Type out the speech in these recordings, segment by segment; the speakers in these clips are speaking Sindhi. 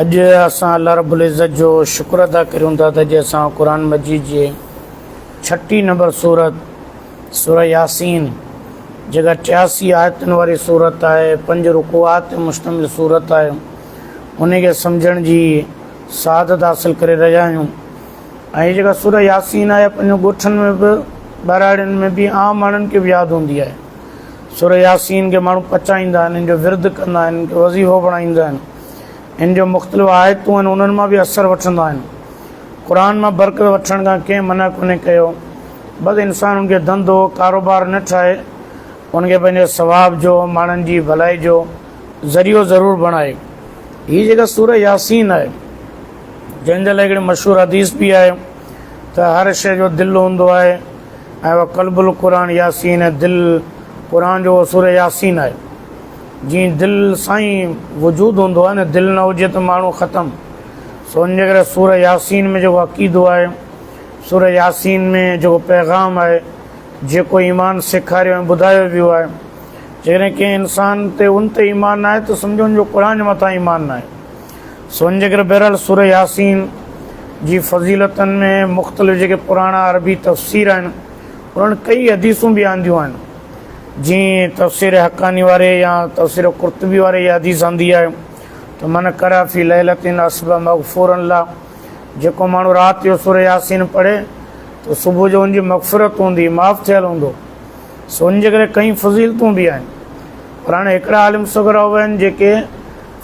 اڄ اسان الله رب العزت جو شڪر ادا ڪريون ٿا ته اڄ اسان قرآن مجيد جي ڇٽي نمبر سورت سورة ياسين جيڪا ٽياسي آيتن واري سورت آهي پنج رڪوعات تي مشتمل سورت آهي ان کي سمجھڻ جي سعادت حاصل ڪري رهيا آهيون ۽ جيڪا سورة ياسين آهي پنهنجو ڳوٺن ۾ به ٻهراڙين ۾ به عام ماڻهن کي به ياد هوندي آهي سورة ياسين کي ماڻهو پچائيندا آهن ان جو ورد ڪندا آهن ان کي وظيفو بڻائيندا آهن هن جو مختلف آيتون آهن انهن مان به اثر وٺندا آهن قرآن مان برڪت وٺڻ کان ڪنهن منع ڪونهي ڪيو بس انسان ان کي ڌنڌو ڪاروبار نه ٺاهي ان کي پنهنجي ثواب جو ماڻهن جي ڀلائي جو ذريعو ضرور بڻائي هي جيڪا سورة ياسين آهي جنهن جي لاء هڪڙي مشهور حديث به آهي ته هر شيء جو دل هوندو آهي ۽ قلب القرآن ياسين دل قرآن جو سورة ياسين آهي جي دل سان ئي وجود هوندو آهي نه دل نه هجي ته ماڻهو ختم سو ان جي ڪري سوره ياسين ۾ جيڪو عقيدو آهي سوره ياسين ۾ جيڪو پيغام آهي جيڪو ايمان سيکاريو ۽ ٻڌايو ويو آهي جيڪڏهن ڪنهن انسان تي ان تي ايمان ناهي ته سمجهو ان جو قرآن جي مٿان ايمان ناهي سو ان جي ڪري بهرحال سوره ياسين جي فضيلتن ۾ مختلف جيڪي پراڻا عربي تفسير آهن انهن ڪئي حديثون به آنديون آهن جيئن تفسير حقاني واري يا تفسير قرطبي واري اها حديث آندي آهي ته من قرأ في ليلة اصبح مغفورا له جيڪو ماڻهو رات جو سورة ياسين پڙهي ته صبح جو ان جي مغفرت هوندي معاف ٿيل هوندو سو ان جي ڪري ڪئين فضيلتون به آهن پر هاڻي هڪڙا عالم صغرا هئا آهن جيڪي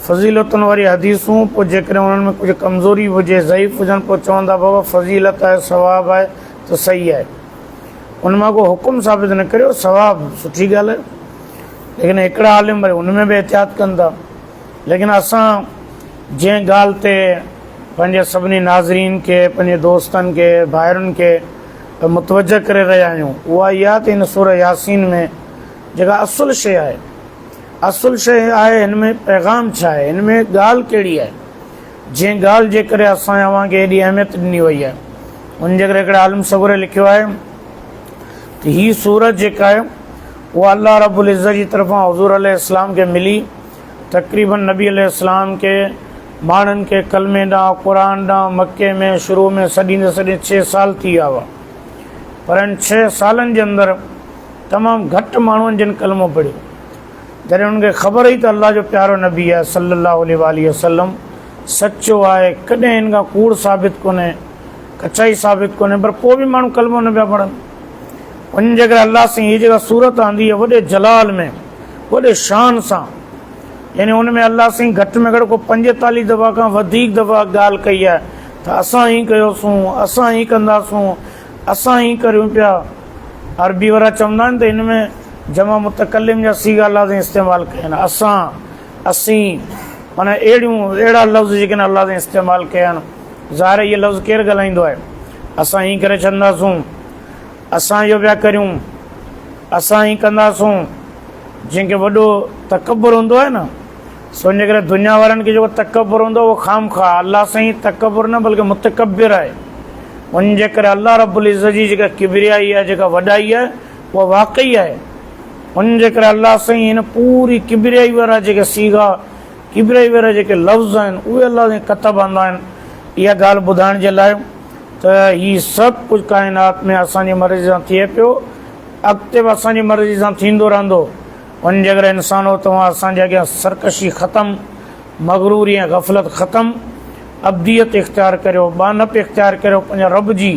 فضيلتن واري حديثون پوء جيڪڏهن انهن ۾ ڪجهه ڪمزوري به هجي ضعيف هجن پوء چوندا بابا فضيلت آهي ثواب آهي ته صحيح آهي ان مان ڪو حڪم ثابت نه ڪريو ثواب سٺي ڳالهه آهي ليڪن هڪڙا عالم وري ان ۾ به احتياط ڪن ٿا ليڪن اسان جنهن ڳالهه تي پنهنجي سڀني ناظرين کي پنهنجي دوستن کي ڀائرن کي متوجه ڪري رهيا آهيون اها اي آهي ته هن سورة ياسين ۾ جيڪا اصل شيء آهي اصل شيء آهي هن ۾ پيغام ڇا آهي هن ۾ ڳالهه ڪهڙي آهي جنهن ڳالهه جي ڪري اسان ۽ اوهان کي ايڏي اهميت ڏني وئي آهي ان جي ڪري هڪڙي عالم سڳوري لکيو آهي ته هي سورت جيڪا آهي اها الله رب العزت جي طرفان حضور عليه السلام کي ملي تقريبن نبي عليه السلام کي ماڻهن کي ڪلمي ڏانهن قرآن ڏانهن مڪي ۾ شروع ۾ سڏيندي سڏيندي ڇهه سال ٿي ويا هئا پر ان ڇهه سالن جي اندر تمام گهٽ ماڻهن جن ڪلمو پڙهيو جڏهن انهن کي خبر هئي ته الله جو پيارو نبي آهي صلّي الله عليه واٰله وسلّم سچو آهي، ڪڏهن هن کان ڪوڙ ثابت ڪونهي، ڪچائي ثابت ڪونهي، پر پوء به ماڻهو ڪلمو نه پيا پڙهن. وڃي جيڪڏهن الله سائين هيء جيڪا صورت آندي آهي وڏي جلال ۾ وڏي شان سان يعني ان ۾ الله سائين گهٽ ۾ گهٽ ڪو پنجيتاليهه دفعا کان وڌيڪ دفعا ڳالهه ڪئي آهي ته اسان هيء ڪيوسون، اسان هيء ڪنداسون، اسان ائين ڪريون پيا. عربي وارا چوندا آهن ته هن ۾ جمع متڪلم جا صيغا لازين استعمال ڪيا آهن، اسان، اسين، معنيٰ اهڙيون، اهڙا لفظ جيڪي هن لازين استعمال ڪيا آهن. ظاهر آهي اهي لفظ ڪير ڳالهائيندو آهي. اسان ائين ڪري ڇڏنداسون. اسان اهو پيا ڪريون. اسان ائين ڪنداسون. جنهن کي وڏو تڪبر هوندو آهي نه. سو انهيء ڪري دنيا وارن کي جيڪو تڪبر هوندو اهو خامخواهه الله سائين تڪبر نه بلڪه متڪبر آهي ان جي ڪري الله رب العزت جي جيڪا ڪبريائي آهي جيڪا وڏائي آهي اها واقعي آهي ان جي ڪري الله سائين هن پوري ڪبريائي وارا جيڪي سيغا ڪبريائي وارا جيڪي لفظ آهن اهي الله سائين ڪتب آندا آهن اها ڳالهه ٻڌائڻ جي لاء ته هي سڀ ڪجهه ڪائنات ۾ اسان جي مرضي سان ٿئي پيو اڳتي به اسان جي مرضي سان ٿيندو رهندو وڃ جيڪڏهن انسانو توهان اسان جي اڳيان سرڪشي ختم، مغروري ۽ غفلت ختم، عبديت اختيار ڪريو، ٻانهپ اختيار ڪريو پنهنجي رب جي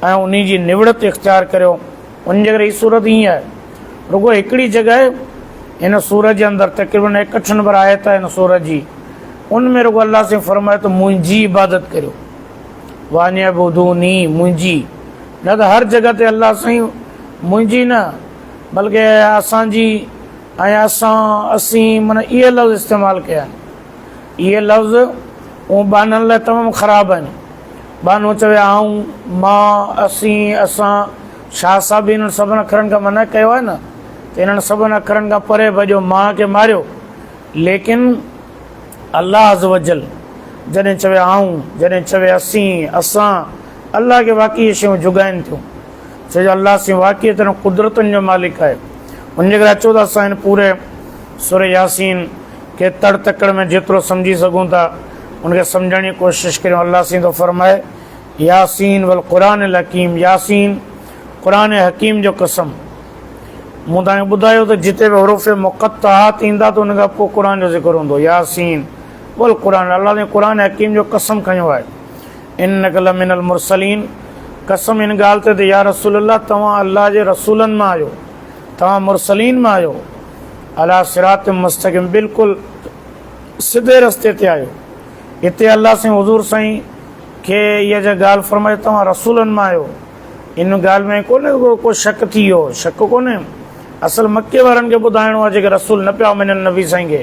۽ انهي جي نوڙت اختيار ڪريو. وڃ جيڪڏهن هي سورت ائين آهي. رڳو هڪڙي جڳهه هن سورت جي اندر تقريبن ايڪهٺ نمبر آيت آهي هن سورت جي ان ۾ رڳو الله سائين فرمايو ته منهنجي عبادت ڪريو وانعبدوني منهنجي نه ته هر جڳهه تي الله سائين منهنجي نه بلڪ اسان جي ۽ اسان اسين معنيٰ اهي لفظ استعمال ڪيا آهن اهي لفظ اون ٻانهن لاء تمام خراب آهن ٻانهو چوي آئون مان اسين اسان شاهه صاحب بي انهن سڀن اکرن کان منع ڪيو آهي نه ته انهن سڀن اکرن کان پري ڀڄو ماء کي ماريو ليڪن الله عز وجل جڏهن چوي آئون جڏهن چوي اسين اسان الله کي واقعي شيون جڳائن ٿيون ڇو جو الله سين واقعي تنهن قدرتن جو مالڪ آهي ان جي ڪري اچو ته اسان هن پوري سورة ياسين کي تڙ تڪڙ ۾ جيترو سمجهي سگهون ٿا ان کي سمجهڻ جي ڪوشش ڪريون الله سين ٿو فرمائي ياسين والقرآن الحڪيم ياسين قرآن حڪيم جو قسم مون تان ٻڌايو ته جتي به حروف مقطعات ايندا ته ان کان پوء قرآن جو ذڪر هوندو ياسين بول قرآن الله نے قرآن حڪيم جو قسم کنيو آهي انک لمن المرسلين، قسم ان ڳالهه تي ته يا رسول الله توهان الله جي رسولن مان آهيو، توهان مرسلين مان آهيو، عليٰ صراط مستقيم بلڪل سڌي رستي تي آهيو، اتي الله سائين حضور سائين کي اها جا ڳالهه فرمائي ته توهان رسولن مان آهيو، ان ڳالهه ۾ ڪونه ڪو ڪو شڪ ٿي ويو، شڪ ڪونه، اصل مڪي وارن کي ٻڌائڻو آهي جيڪي رسول نه پيا مڃن نبي سائين کي.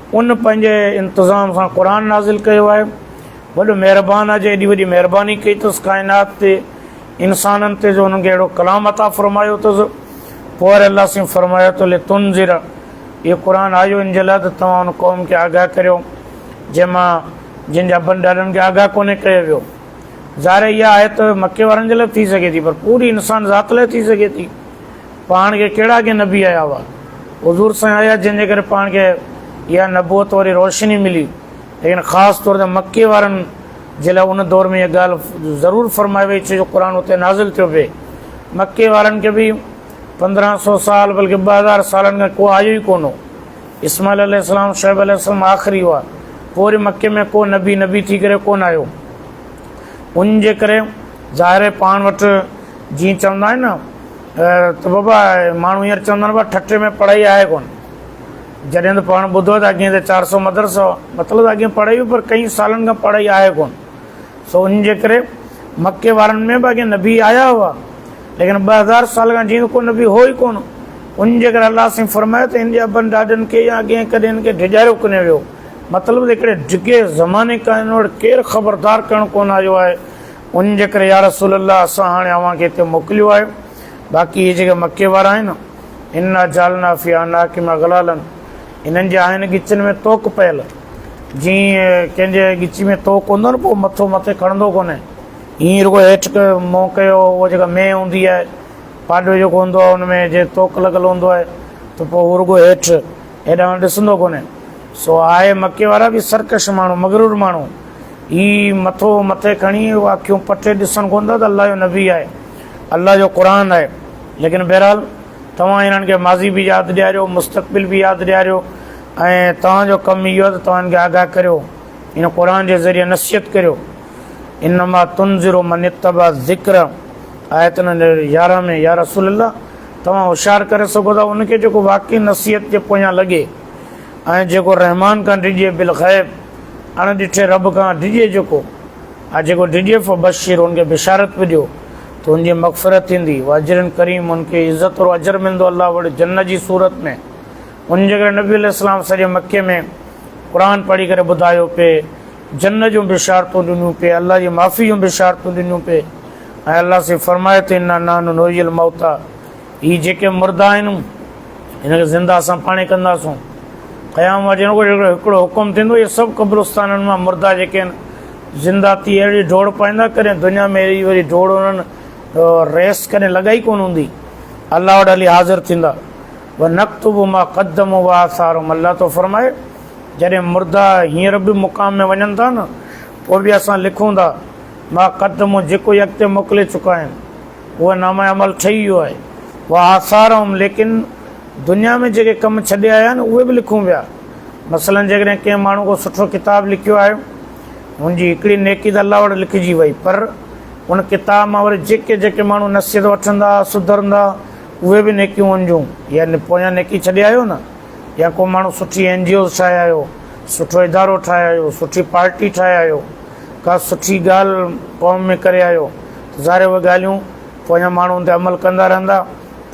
ان پنهنجي انتظام سان قرآن نازل ڪيو آهي. وڏو مهربان آهي جو ايڏي وڏي مهرباني ڪئي اٿس ڪائنات تي انسانن تي جو انهن کي اهڙو ڪلام عطا فرمايو اٿس. پوء وري الله سائين فرمايو ته لتنذر اهو قرآن آيو ان جي لاء ته توهان ان قوم کي آگاهه ڪريو جنهن مان جن جي ابن ڏاڏن کي آگاهه ڪونهي ڪيو ويو. ظاهر اها آيت مڪي وارن جي لاء به ٿي سگهي ٿي پر پوري انسان ذات لاء ٿي سگهي ٿي. پاڻ کي ڪهڙا اڳي نبي آيا هئا؟ حضور سائين آيا جنهن جي ڪري پاڻ کي اها نبوت واري روشني ملي ليڪن خاص طور تي مڪي وارن جي لاء ان دور ۾ اها ڳالهه ضرور فرمائي وئي ڇو جو قرآن اتي نازل ٿيو پئي مڪي وارن کي به پندرهن سو سال بلڪه ٻه هزار سالن کان ڪو آيو ئي ڪونه اسماعيل عليه السلام شعيب عليه السلام آخري هئا پوري مڪي ۾ ڪو نبي نبي ٿي ڪري ڪونه آيو ان جي ڪري ظاهر آهي پاڻ وٽ جيئن چوندا آهن نه ته بابا ماڻهو هينئر چوندا آهن ٺٽي ۾ پڙهائي آهي ڪونه جڏهن ته پاڻ ٻڌو ته اڳهين ته چار سؤ مدرسو مطلب اڳهين پڙهائي هئي پر ڪئين سالن کان پڙهائي آهي ڪونه سو ان جي ڪري مڪي وارن ۾ به اڳهين نبي آيا هئا ليڪن ٻه هزار سال کان جيئن ڪو نبي هو ئي ڪونه ان جي ڪري الله سائين فرمايو ته ان جي ابن ڏاڏن کي يا اڳهين ڪڏهن ان کي ڊيڄاريو ڪونه ويو مطلب ته هڪڙي ڊگهي زماني کان هن وٽ ڪير خبردار ڪرڻ ڪونه آيو آهي ان جي ڪري يا رسول الله اسان هاڻي اوهان کي هتي موڪليو آهي باقي اهي جيڪي مڪي وارا آهن انا جعلنا في اعناقهم اغلالا انهن جي آهن ڳچين ۾ توڪ پيل جي ڪنهن جي ڳچي ۾ توڪ هوندو نه پوء مٿو مٿي کڻندو ڪونهي ائين رڳو هيٺ منهن ڪيو اها جيڪا مين هوندي آهي پاڏو جيڪو هوندو آهي ان ۾ جي توڪ لڳل هوندو آهي ته پوء هو رڳو هيٺ هيڏانهن هونڏانهن ڏسندو ڪونهي. سو آء مڪي وارا به سرڪش ماڻهو، مغرور ماڻهو، هي مٿو مٿي کڻي اکيون پٽي ڏسن ڪونه ٿا ته الله جو نبي آهي، الله جو قرآن آهي. ليڪن بهرحال توهان هنن کي ماضي به ياد ڏياريو، مستقبل به ياد ڏياريو ۽ توهان جو ڪم اهو آهي ته توهان هنن کي آگاهه ڪريو، هن قرآن جي ذريعي نصيحت ڪريو. انما تنذر من اتبع الذڪر آيت نمبر يارهن ۾ يا رسول الله توهان هوشيار ڪري سگهو ٿا ان کي جيڪو واقعي نصيحت جي پويان لڳي ۽ جيڪو رحمان کان ڊڄي بالغيب اڻ ڏٺي رب کان ڊڄي جيڪو ۽ جيڪو ڊڄي فبشر ان کي بشارت به ڏيو ته ان جي مغفرت ٿيندي واجر ڪريم ان کي عزت ورو اجر ملندو الله وڙي جنت جي صورت ۾ ان جي ڪري نبي عليه السلام سڄي مڪي ۾ قرآن پڙهي ڪري ٻڌايو پي جنت جون بشارتون ڏنيون پي الله جي معافي جون بشارتون ڏنيون پي ۽ الله سي فرمائي ٿو انا نحن نحيي الموتيٰ هي جيڪي مردا آهن هن کي زنده اسان پاڻي ڪنداسون قيام واري ڏينهن هڪڙو هڪڙو حڪم ٿيندو اهي سڀ قبرستانن مان مردا جيڪي آهن زنده ٿي اهڙي ڊوڙ پائيندا ڪڏهن دنيا ۾ اهڙي واري ڊوڙ انهن ريس ڪڏهن لڳائي ڪون هوندي الله وٽ هلي حاضر ٿيندا و نقتب ما قدم و آثارم الله تو فرمائي جڏهن مردا هينئر به مقام ۾ وڃن ٿا نه پوء به اسان لکون ٿا مان قد مون جيڪو ئي اڳتي موڪلي چڪا آهن اهو نامه عمل ٺهي ويو آهي وآثارهم ليڪن دنيا ۾ جيڪي ڪم ڇڏي آيا آهن اهي به لکون پيا مثلا جيڪڏهن ڪنهن ماڻهو ڪو سٺو ڪتاب لکيو آهي هن جي هڪڙي نيڪي ته الله وٽ لکجي وئي پر ان ڪتاب مان وري جيڪي جيڪي ماڻهو نصيحت وٺندا سڌرندا اهي به نيڪيون هن جون يعني پويان نيڪي ڇڏي آيو نه يا ڪو ماڻهو سٺي اين جي اوز ٺاهي آيو سٺو ادارو ٺاهي آيو سٺي پارٽي ٺاهي آيو ڪا سٺي ڳالهه قوم ۾ ڪري آيو ته ظاهر اهي ڳالهيون پوء اڃا ماڻهو ان تي عمل ڪندا رهندا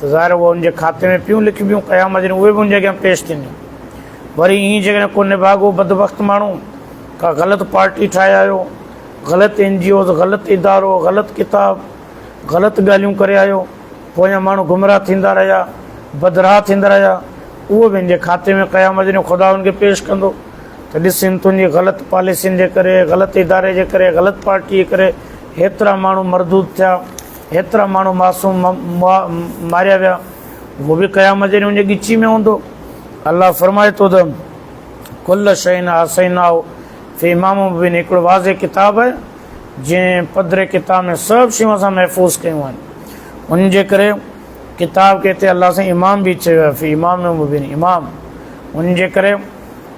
ته ظاهر اهي ان جي کاتي ۾ پيون لکبيون قيامت جي ڏينهن اهي به ان جي اڳيان پيش ٿينديون وري ائين جيڪڏهن ڪو نڀاڳو بدبخت ماڻهو ڪا غلط پارٽي ٺاهي آيو غلط اين جي اوز غلط ادارو غلط ڪتاب غلط ڳالهيون ڪري آيو پوء اڃا ماڻهو گمراهه ٿيندا رهيا بدراهه ٿيندا رهيا اهو به ان جي کاتي ۾ قيامت جي ڏينهن خدا ان کي پيش ڪندو ته ڏس ان تنهنجي غلط پاليسين جي ڪري، غلط اداري جي ڪري، غلط پارٽي جي ڪري هيترا ماڻهو مردود ٿيا، هيترا ماڻهو معصوم ماريا ويا، اهو به قيامت جي ڏينهن ان جي ڳچي ۾ هوندو. الله فرمائي ٿو ته ڪل شيء احصيناه في امام مبين هڪڙو واضح ڪتاب آهي جنهن پڌري ڪتاب ۾ سڀ شيون اسان محفوظ ڪيون آهن ان جي ڪري ڪتاب کي هتي الله سائين امام به چيو آهي في امام مبين امام ان جي ڪري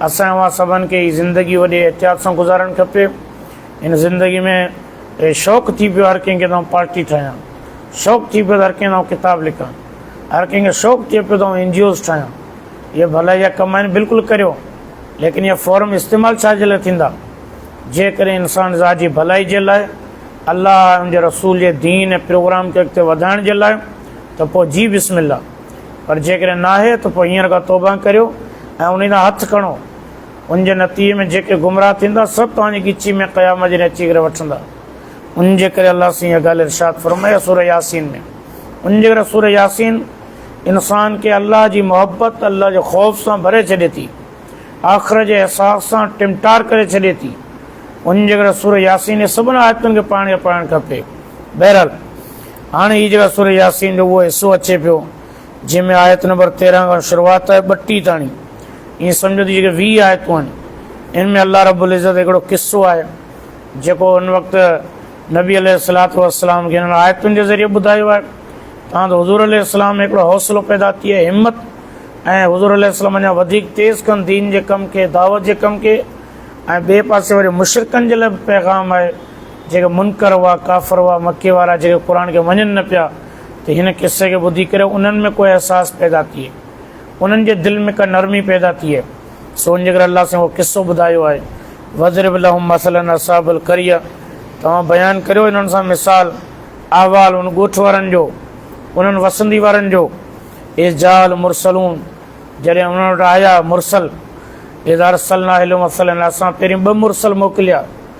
اسان اوهان سڀن کي هي زندگي وڏي احتياط سان گذارڻ کپي هن زندگي ۾ شوق ٿي پيو هر ڪنهن کي ته آئون پارٽي ٺاهيان شوق ٿي پيو ته هر ڪنهن ته آئون ڪتاب لکان هر ڪنهن کي شوق ٿئي پيو ته آئون اين جي اوز ٺاهيان هي ڀلائي جا ڪم آهن بلڪل ڪريو ليڪن هي فورم استعمال ڇا جي لاء ٿيندا جيڪڏهن انسان ذات جي ڀلائي جي لاء الله ان جي رسول جي دين ۽ پروگرام کي اڳتي وڌائڻ جي لاء ته پوء جي بسم الله پر جيڪڏهن ناهي ته پوء هينئر کان توبه ڪريو ۽ انهي تان هٿ کڻو، ان جي نتيجي ۾ جيڪي گمراهه ٿيندا سڀ توهان جي ڳچي ۾ قيامت جي ڏينهن اچي ڪري وٺندا. ان جي ڪري الله سائين اها ڳالهه ارشاد فرمائي آهي سوره ياسين ۾، ان جي ڪري سوره ياسين انسان کي الله جي محبت، الله جي خوف سان ڀري ڇڏي ٿي، آخرت جي احساس سان ٽمٽار ڪري ڇڏي ٿي، ان جي ڪري سوره ياسين جي سڀني آيتن کي پاڻ کي پڙهڻ کپي. بهرحال! هاڻي هي جيڪا سوره ياسين جو اهو حصو اچي پيو جنهن ۾ آيت نمبر تيرهن کان شروعات آهي ٻٽيهه تاڻي ائين سمجهو ته جيڪي ويهه آيتون آهن ان ۾ الله رب العزت هڪڙو قصو آهي جيڪو ان وقت نبي عليه الصلاط والسلام کي هنن آيتن جي ذريعي ٻڌايو آهي تان ته حضور عليه السلام ۾ هڪڙو حوصلو پيدا ٿئي همت ۽ حضور عليه السلام اڃا وڌيڪ تيز ڪن دين جي ڪم کي دعوت جي ڪم کي ۽ ٻئي پاسي وري مشرڪن جي لاء به پيغام آهي جيڪي منڪر هئا، ڪافر هئا، مڪي وارا، جيڪي قرآن کي مڃن نه پيا ته هن قصي کي ٻڌي ڪري انهن ۾ ڪو احساس پيدا ٿئي، انهن جي دل ۾ ڪا نرمي پيدا ٿئي، سو ان جي ڪري الله سائين اهو قصو ٻڌايو آهي، واضرب لهم مثلا اصحاب القريه توهان بيان ڪريو انهن سان مثال، احوال، ان ڳوٺ وارن جو، انهن وسندي وارن جو، اذ جاء المرسلون جڏهن انهن وٽ آيا مرسل، اذ ارسلنا اليهم مثلا اسان پهرين ٻه مرسل موڪليا.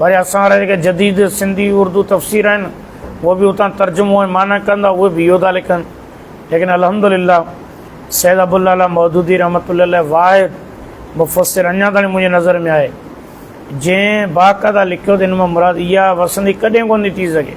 وري اسان وارا جيڪي جديد سنڌي اردو تفسير آهن اهي به اتان ترجمو ۽ معنيٰ ڪن ٿا اهي به اهو ٿا لکن ليڪن الحمد لله سيد ابو الله مودودي رحمت الله واحد مفسر اڃا تائين منهنجي نظر ۾ آهي جنهن باقاعده لکيو ته هن مان مراد اها وسندي ڪڏهن ڪون ٿي ٿي سگهي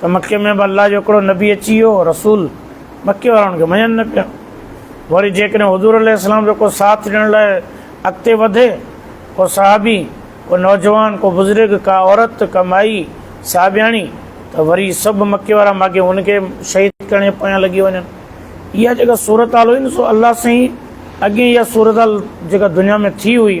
ته مڪي ۾ به الله جو هڪڙو نبي اچي ويو هو، رسول، مڪي وارا ان کي مڃن نه پيا. وري جيڪڏهن حضور عليه السلام جو ڪو ساٿ ڏيڻ لاء اڳتي وڌي، ڪو صحابي، ڪو نوجوان، ڪو بزرگ، ڪا عورت، ڪا مائي، صحابياڻي، ته وري سڀ مڪي وارا ماڳهين ان کي شهيد ڪرڻ جي پويان لڳي وڃن. اها جيڪا صورتحال هئي نه سو الله سائين اڳين اها صورتحال جيڪا دنيا ۾ ٿي هئي،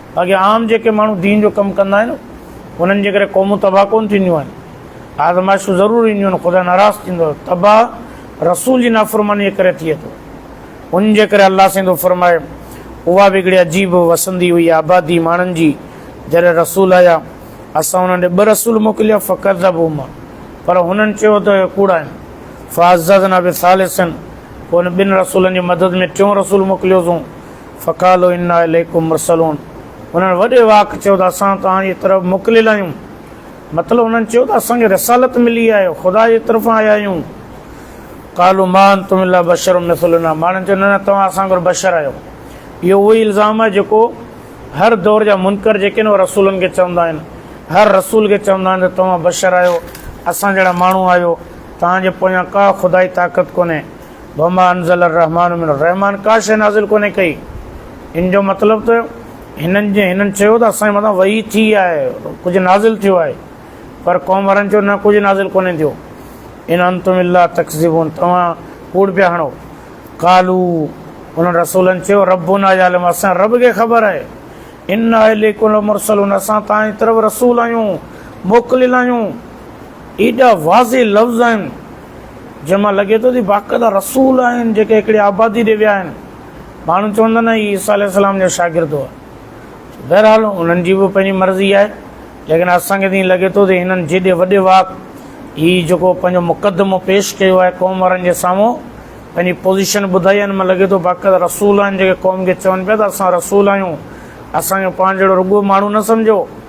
باقي عام جيڪي ماڻهو دين جو ڪم ڪندا آهن انهن جي ڪري قومون تباهه ڪونه ٿينديون آهن آزمائشون ضرور اينديون آهن خدا ناراض ٿيندو تباهه رسول جي نافرماني جي ڪري ٿئي ٿو ان جي ڪري الله سائين ٿو فرمائي اها به هڪڙي عجيب وسندي هئي آبادي ماڻهن جي جڏهن رسول آيا اسان انهن ڏي ٻه رسول موڪليا فقط ذب عما پر هنن چيو ته ڪوڙا آهن فاضنا به ثالثن پوء ان ٻن رسولن جي مدد ۾ ٽيون رسول موڪليوسون فقالوا انا اليکم مرسلون انهن وڏي واڪ چيو ته اسان توهان جي طرف موڪليل آهيون مطلب انهن چيو ته اسان کي رسالت ملي آهي خدا جي طرفان آيا آهيون قالوا ما انتم الا بشر مثلنا ماڻهن چيو نه نه توهان اسان وانگر بشر آهيو اهو اهو ئي الزام آهي جيڪو هر دور جا منڪر جيڪي آهن اهي رسولن کي چوندا آهن هر رسول کي چوندا آهن ته توهان بشر آهيو اسان جهڙا ماڻهو آهيو توهان جي پويان ڪا خدائي طاقت ڪونهي وما انزل الرحمٰن من الرحمٰن ڪا شيء نازل ڪونهي ڪئي ان جو مطلب ته هنن جي هنن چيو ته اسان جي مٿان وحي ٿي آهي ڪجهه نازل ٿيو آهي پر قوم وارن چيو نه ڪجهه نازل ڪونهي ٿيو ان انتم الا تڪذبون توهان ڪوڙ پيا هڻو قالو انهن رسولن چيو ربنا يعلم اسان رب کي خبر آهي ان اليڪم المرسلون اسان تان طرف رسول آيون موڪليل آيون ايڏا واضح لفظ آهن جنهن مان لڳي ٿو ته باقاعده رسول آهن جيڪي هڪڙي آبادي ڏي ويا آهن. ماڻهو چوندا آهن نه هي عيسيٰ عليه السلام جو شاگرد هئا. بهرحال انهن جي به پنهنجي مرضي آهي ليڪن اسان کي ته ائين لڳي ٿو ته هنن جيڏي وڏي واڪ هي جيڪو پنهنجو مقدمو پيش ڪيو آهي قوم وارن جي سامهون پنهنجي پوزيشن ٻڌائي آهي ان مان لڳي ٿو باقاعده رسول آهن جيڪي قوم کي چون پيا ته اسان رسول آهيون اسان کي پاڻ جهڙو رڳو ماڻهو نه سمجهو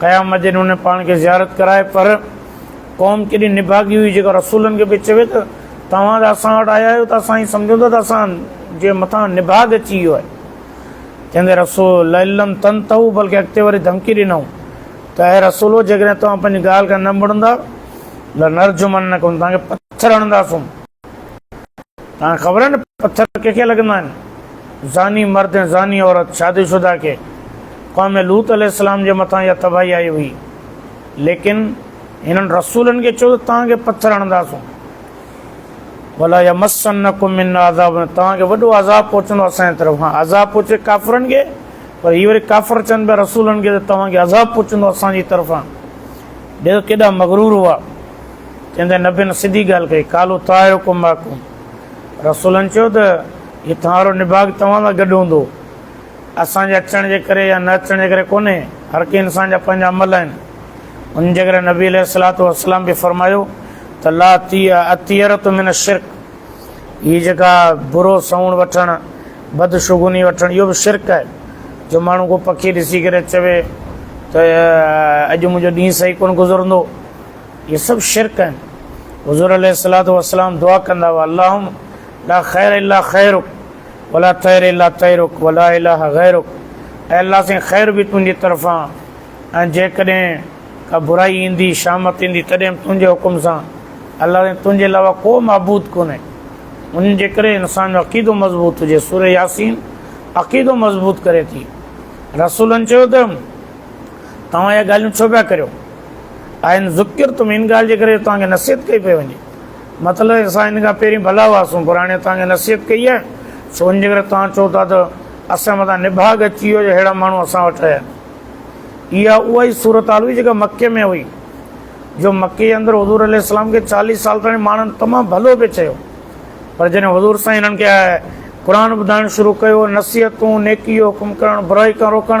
قيام الدين ان پاڻ کي زيارت ڪرائي پر قوم ڪيڏي نڀاڳي هئي جيڪا رسولن کي پئي چوي ته توهان ته اسان وٽ آيا آهيو ته اسان ائين سمجهون ٿا ته اسان جي مٿان نڀاڳ اچي ويو آهي چوندي رسول لئلم تن تهو بلڪه اڳتي وري ڌمڪي ڏنائون ته اي رسولو جيڪڏهن توهان پنهنجي ڳالهه کان نه مڙندا ته نرجمن نه ڪن توهان کي پٿر هڻنداسون تنهن خبر آهي نه پٿر ڪنهن کي لڳندا آهن؟ زاني مرد ۽ زاني عورت، شادي شده، کي. قوم لوط عليه السلام جي مٿان اها تباهي آئي هئي. ليڪن هنن رسولن کي چيو ته توهان کي پٿر هڻنداسون. ولا يمسنڪم منا عذاب توهان کي وڏو عذاب پهچندو اسان جي طرف. هان عذاب پهچي ڪافرن کي پر هي وري ڪافر چون پيا رسولن کي ته توهان کي عذاب پهچندو اسان جي طرفان. ڏسو ڪيڏا مغرور هئا. جنهن تي نبين سڌي ڳالهه ڪئي، قالوا طائرڪم معڪم، رسولن چيو ته هي توهان وارو نڀاڳ توهان سان گڏ هوندو، اسان جي اچڻ جي ڪري يا نه اچڻ جي ڪري ڪونهي، هر ڪنهن انسان جا پنهنجا عمل آهن، انهن جي ڪري نبي عليه الصلوة والسلام به فرمايو ته لا الطيرة من الشرڪ، هي جيڪا برو سنوڻ وٺڻ، بدشگوني وٺڻ اهو به شرڪ آهي، جو ماڻهو ڪو پکي ڏسي ڪري چوي ته اڄ منهنجو ڏينهن صحيح ڪونه گذرندو. اهي سڀ شرڪ آهن. حضور عليه الصلوة والسلام دعا ڪندا هئا، اللهم لا خير الا خيرک ولا طير الا طيرک ولا اله غيرک اي الله سائين خير به تنهنجي طرفان ۽ جيڪڏهن ڪا برائي ايندي شامت ايندي تڏهن به تنهنجي حڪم سان الله سائين تنهنجي علاوه ڪو معبود ڪونهي ان جي ڪري انسان جو عقيدو مضبوط هجي سورة ياسين عقيدو مضبوط ڪري ٿي رسولن چيو ته توهان اهي ڳالهيون ڇو پيا ڪريو ان ذکرتم ان ڳالهه جي ڪري جو توهان کي نصيحت ڪئي پئي وڃي مطلب اسان ان کان پهرين ڀلا هئاسون پر هاڻي توهان کي نصيحت ڪئي آهي سو ان جي ڪري توهان چئو ٿا ته اسان مٿان نڀاڳ اچي ويو جو اهڙا ماڻهو اسان وٽ آيا آهن اها اها ئي صورت حال هئي جيڪا مکي ۾ هئي جو مکي جي اندر حضور عليه السلام کي چاليس سال تائين ماڻهن تمام ڀلو پئي چيو پر جڏهن حضور سائين هنن کي قرآن ٻڌائڻ شروع ڪيو نصيحتون نيڪي جو حڪم ڪرڻ برائي کان روڪڻ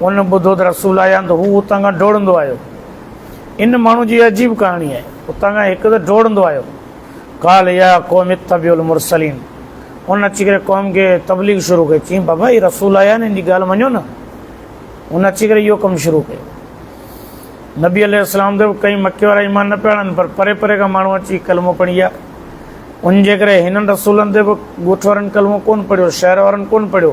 ان ٻڌو ته رسول آيا آهن ته هو اتان کان ڊوڙندو آيو. ان ماڻهو جي اها عجيب ڪهاڻي آهي. اتان کان هڪ ته ڊوڙندو آيو. قال يا قوم اتبعوا المرسلين. ان اچي ڪري قوم کي تبليغ شروع ڪئي. چيائين بابا هي رسول آيا آهن هن جي ڳالهه مڃو نه. ان اچي ڪري اهو ڪم شروع ڪيو. نبي عليه السلام ته ڪئين مکي وارا ايمان نه پيا آڻن پر پري پري کان ماڻهو اچي ڪلمو پڙهي ويا. ان جي ڪري هنن رسولن تي به ڳوٺ وارن ڪلمو ڪونه پڙهيو، شهر وارن ڪونه پڙهيو.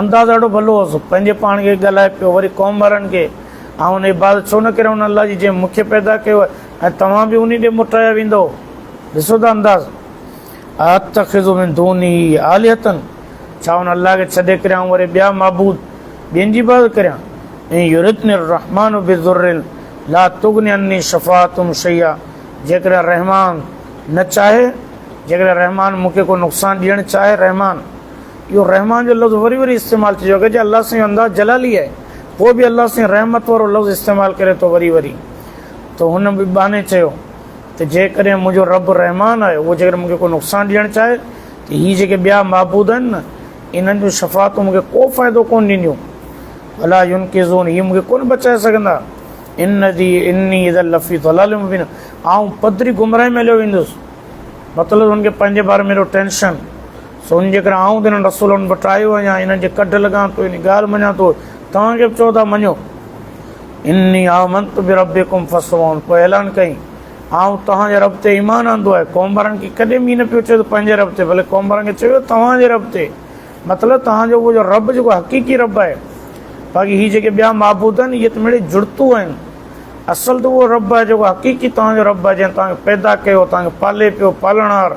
انداز ڏاڍو ڀلو هوس، پنهنجي پاڻ کي ڳالهائي پيو، وري قوم وارن کي، آئون ان عبادت ڇو نه ڪريان ان الله جي جنهن مون کي پيدا ڪيو آهي ۽ توهان به انهي ڏي موٽايا ويندؤ. ڏسو ته انداز. ااتخذ من دونه آلهة، ڇا ان الله کي ڇڏي ڪري آئون وري ٻيا معبود، ٻين جي عبادت ڪريان؟ ان يردني الرحمٰن بضر لا تغن عني شفاعتهم شيئا، جيڪڏهن رحمان نه چاهي، جيڪڏهن رحمان مون کي ڪو نقصان ڏيڻ چاهي، رحمان. اهو رحمان جو لفظ وري وري استعمال ٿي چڪو آهي جي الله سائين جو انداز جلالي آهي پوء به الله سائين رحمت وارو لفظ استعمال ڪري ٿو وري وري ته هن به باني چيو ته جيڪڏهن منهنجو رب رحمان آهي اهو جيڪڏهن مونکي ڪو نقصان ڏيڻ چاهي ته هي جيڪي ٻيا معبود آهن نه انهن جون شفاعتون مونکي ڪو فائدو ڪون ڏينديون الا يون ڪي زون هي مونکي ڪون بچائي سگهندا ان دي اني اذا لفي ضلال مبين آئون پدري گمراهي ۾ هليو ويندس مطلب هن کي پنهنجي باري ۾ ٽينشن سون جيڪڏهن آئون تنهن رسولن وٽ آيو آهيان انهن جي ڪڍ لڳان ٿو يعني ڳالهه مڃان ٿو توهان کي به چئو ٿا مڃو اني آمنت بربڪم فسمعون پوء اعلان ڪيائين آئون توهان جي رب تي ايمان آندو آهي قوم وارن کي ڪڏهن به نه پيو چيو ته پنهنجي رب تي بلڪ قوم وارن کي چيو توهان جي رب تي مطلب توهان جو جو رب جيڪو حقيقي رب آهي باقي هي جيڪي ٻيا معبود آهن اهي ته مڙي جڙتون آهن اصل ته اهو رب آهي جيڪو حقيقي توهان جو رب آهي جنهن توهان کي پيدا ڪيو توهان کي پالي پيو پالڻهار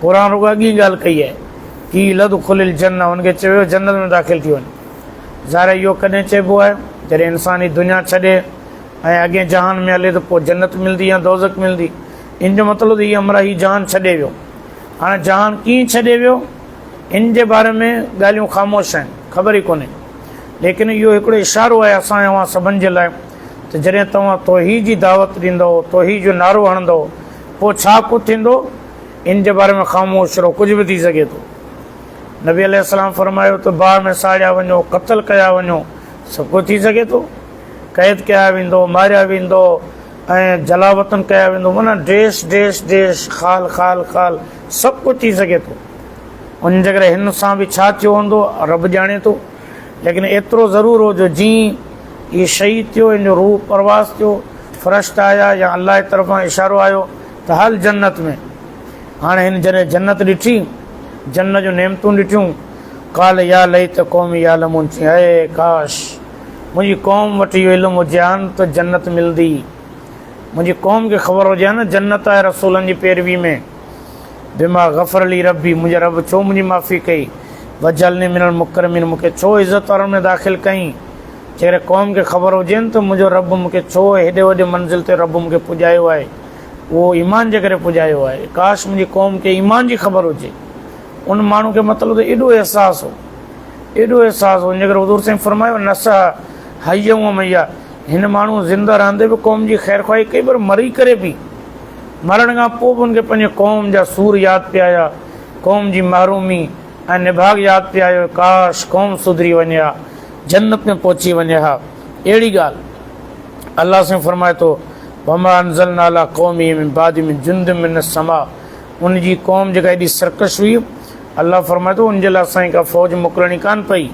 قرآن رڳو اڳ ئي ڳالهه ڪئي آهي، قيل ادخل الجنة انهن کي چيو ويو جنت ۾ داخل ٿي وڃ. ظاهر آهي اهو ڪڏهن چئبو آهي جڏهن انسان هي دنيا ڇڏي ۽ اڳئين جهان ۾ هلي ته پوء جنت ملندي يا دوزخ ملندي ان جو مطلب ته هي امرا هي جهان ڇڏي ويو. هاڻي جهان ڪيئن ڇڏي ويو ان جي باري ۾ ڳالهيون خاموش آهن خبر ئي ڪونهي ليڪن اهو هڪڙو اشارو آهي اسان ۽ اوهان سڀن جي لاء ته جڏهن توهان توحيد جي دعوت ڏيندؤ توحيد جو نعرو هڻندؤ پوء ڇا ڪجهه ٿيندو؟ ان جي باري ۾ خاموش رهو، ڪجهه به ٿي سگهي ٿو. نبي عليه السلام فرمايو ته باهه ۾ ساڙيا وڃو، قتل ڪيا وڃو، سڀ ڪجهه ٿي سگهي ٿو. قيد ڪيا ويندؤ، ماريا ويندؤ ۽ جلاوطن ڪيا ويندؤ، معنيٰ ڊيش ڊيش ڊيش، خال خال خال، سڀ ڪجهه ٿي سگهي ٿو. ان جي ڪري هن سان به ڇا ٿيو هوندو، رب ڄاڻي ٿو. ليڪن ايترو ضرور هو جو جيئن ئي هي شهيد ٿيو، هن جو روح پرواز ٿيو، فرشتا آيا يا الله جي طرفان اشارو آيو ته هل جنت ۾. هاڻي هن جڏهن جنت ڏٺي، جنت جون نعمتون ڏٺيون، قال يا ليت قومي يعلمون، چيائين اي ڪاش! منهنجي قوم وٽ اهو علم هجي ها نه ته جنت ملندي. منهنجي قوم کي خبر هجي ها نه جنت آهي رسولن جي پيروي ۾. بما غفر لي ربي منهنجي رب ڇو منهنجي معافي ڪئي وجعلني من المڪرمين مون کي ڇو عزت وارن ۾ داخل ڪئين جيڪڏهن قوم کي خبر هجي نه ته منهنجو رب مون کي ڇو هيڏي وڏي منزل تي رب مون کي پڄايو آهي اهو ايمان جي ڪري پڄايو آهي ڪاش منهنجي قوم کي ايمان جي خبر هجي ان ماڻهو کي مطلب ته ايڏو احساس هو ايڏو احساس هو ان جي ڪري حضور سائين فرمايو نس حي هو ميا هن ماڻهو زنده رهندي به قوم جي خير خواهي ڪئي پر مري ڪري به مرڻ کان پوء به هن کي پنهنجي قوم جا سور ياد پيا آيا، قوم جي محرومي ۽ نڀاڳ ياد پيا آيو، ڪاش! قوم سڌري وڃي ها، جنت ۾ پهچي وڃي ها. اهڙي ڳالهه الله سائين فرمائي ٿو، وما انزلنا علي قومه من بعده من جند من السماء ان جي قوم جيڪا ايڏي سرڪش هئي، الله فرمائي ٿو، ان جي لاء اسان کي ڪا فوج موڪلڻي ڪانه پئي،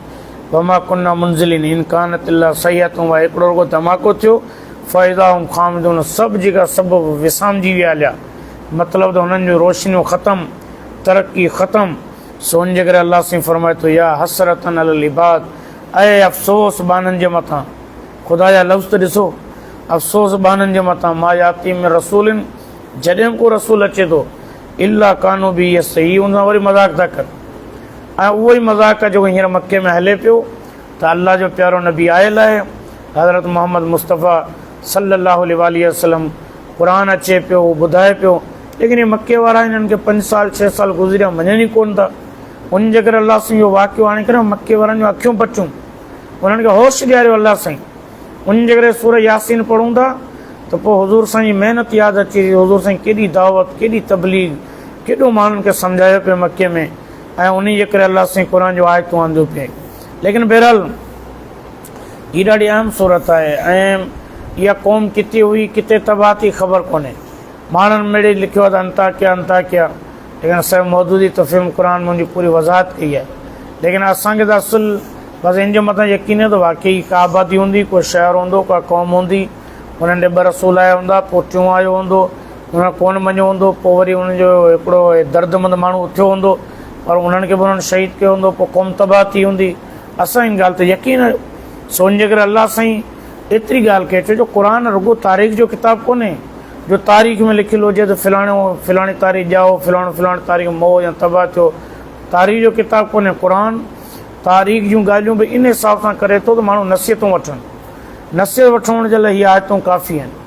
وما ڪنا منزلين ان ڪانت الا صيحة واحدة هڪڙو رڳو ڌماڪو ٿيو، فائدا ۽ خامدون سڀ جيڪا سبب وسامجي ويا هليا مطلب ته هنن جون روشنيون ختم ترقي ختم سو ان جي ڪري الله سائين فرمائي ٿو يا حسرتا علي العباد اي افسوس ٻانهن جي مٿان خدا جا لفظ ته ڏسو افسوس ٻانهن جي مٿان ما ياتي من رسول جڏهن ڪو رسول اچي ٿو الا ڪانو به يستحي ان سان وري مذاق ٿا ڪن ۽ اهو ئي مذاق جيڪو هينئر مڪي ۾ هلي پيو ته الله جو پيارو نبي آيل آهي حضرت محمد مصطفيٰ صلّي الله عليه واٰله وسلّم قرآن اچي پيو هو ٻڌائي پيو ليڪن هي مڪي وارا هنن کي پنج سال ڇهه سال گذريا مڃن ئي ڪون ٿا ان جي ڪري الله سائين جو واقعو آڻي ڪري مڪي وارن جون اکيون پٽيون انهن کي هوش ڏياريو الله سائين ان جي ڪري سورج ياسين پڙھون ٿا ته پوء حضور سائين جي محنت ياد اچي حضور سائين ڪيڏي دعوت ڪيڏي تبليغ ڪيڏو ماڻھن کي سمجھايو پيو مڪي ۾ ۽ انهيء جي ڪري الله سائين قرآن جون آيتون آنديون پئي. ليڪن بهرحال هي ڏاڍي اهم صورت آهي ۽ اها قوم ڪٿي هئي ڪٿي تباهه ٿي خبر ڪونهي. ماڻهن مڙئي لکيو آهي ته انطاڪيه انطاڪيه ليڪن اسان مودودي تفهيم القرآن ۾ ان جي پوري وضاحت ڪئي آهي. ليڪن اسان کي ته اصل بس ان جي مٿان يقين آهي ته واقعي ڪا آبادي هوندي، ڪو شهر هوندو، ڪا قوم هوندي، انهن ڏي ٻه رسول آيا هوندا، پوء ٽيون آيو هوندو، انهن ڪونه مڃيو هوندو پوء وري انهن جو هڪڙو دردمند ماڻهو اٿيو هوندو پر انهن کي به انهن شهيد ڪيو هوندو پوء قوم تباهه ٿي هوندي اسان ان ڳالهه تي يقين آهيو سو ان جي ڪري الله سائين ايتري ڳالهه ڪئي ڇو جو قرآن رڳو تاريخ جو ڪتاب ڪونهي جو تاريخ ۾ لکيل هجي ته فلاڻو فلاڻي تاريخ ڄائو فلاڻو فلاڻي تاريخ مئو يا تباهه ٿيو تاريخ جو ڪتاب ڪونهي قرآن تاريخ جون ڳالهيون به ان حساب سان ڪري ٿو ته ماڻهو نصيحتون وٺن نصيحت وٺڻ جي لاء هي آيتون ڪافي آهن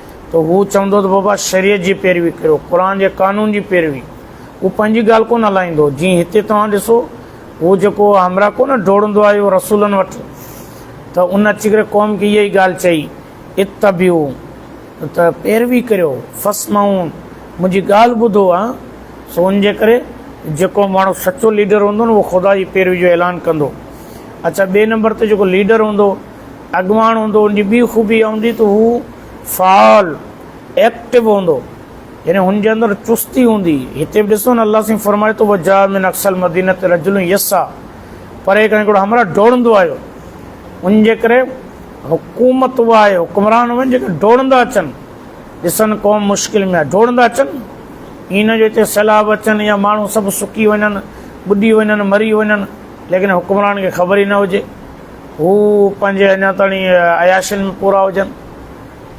ته هو چوندو ته بابا شريعت جي پيروي ڪريو، قرآن جي قانون جي پيروي. هو پنهنجي ڳالهه ڪونه هلائيندو، جيئن هتي توهان ڏسو هو جيڪو همراهه ڪونه ڊوڙندو آيو رسولن وٽ ته ان اچي ڪري قوم کي اها ئي ڳالهه چئي اتبعو ته پيروي ڪريو فاسمعو منهنجي ڳالهه ٻڌو ها سو ان جي ڪري جيڪو ماڻهو سچو ليڊر هوندو نه اهو خدا جي پيروي جو اعلان ڪندو اڇا ٻئي نمبر تي جيڪو ليڊر هوندو اڳواڻ هوندو ان جي ٻي خوبي اها هوندي ته هو فعال Active هوندو يعني هن جي اندر چستي هوندي هتي به ڏسو نه الله سائين فرمائي ٿو وجاء من اقصى المدينه تي رجل يسا پري کان هڪڙو همراهه ڊوڙندو آيو ان جي ڪري حڪومت اها آهي حڪمران اهي جيڪي ڊوڙندا اچن ڏسن قوم مشڪل ۾ ڊوڙندا اچن ان جو هتي سيلاب اچن يا ماڻهو سڀ سڪي وڃن ٻڏي وڃن مري وڃن ليڪن حڪمران کي خبر ئي نه هجي هو پنهنجي اڃا تائين عياشين ۾ پورا هجن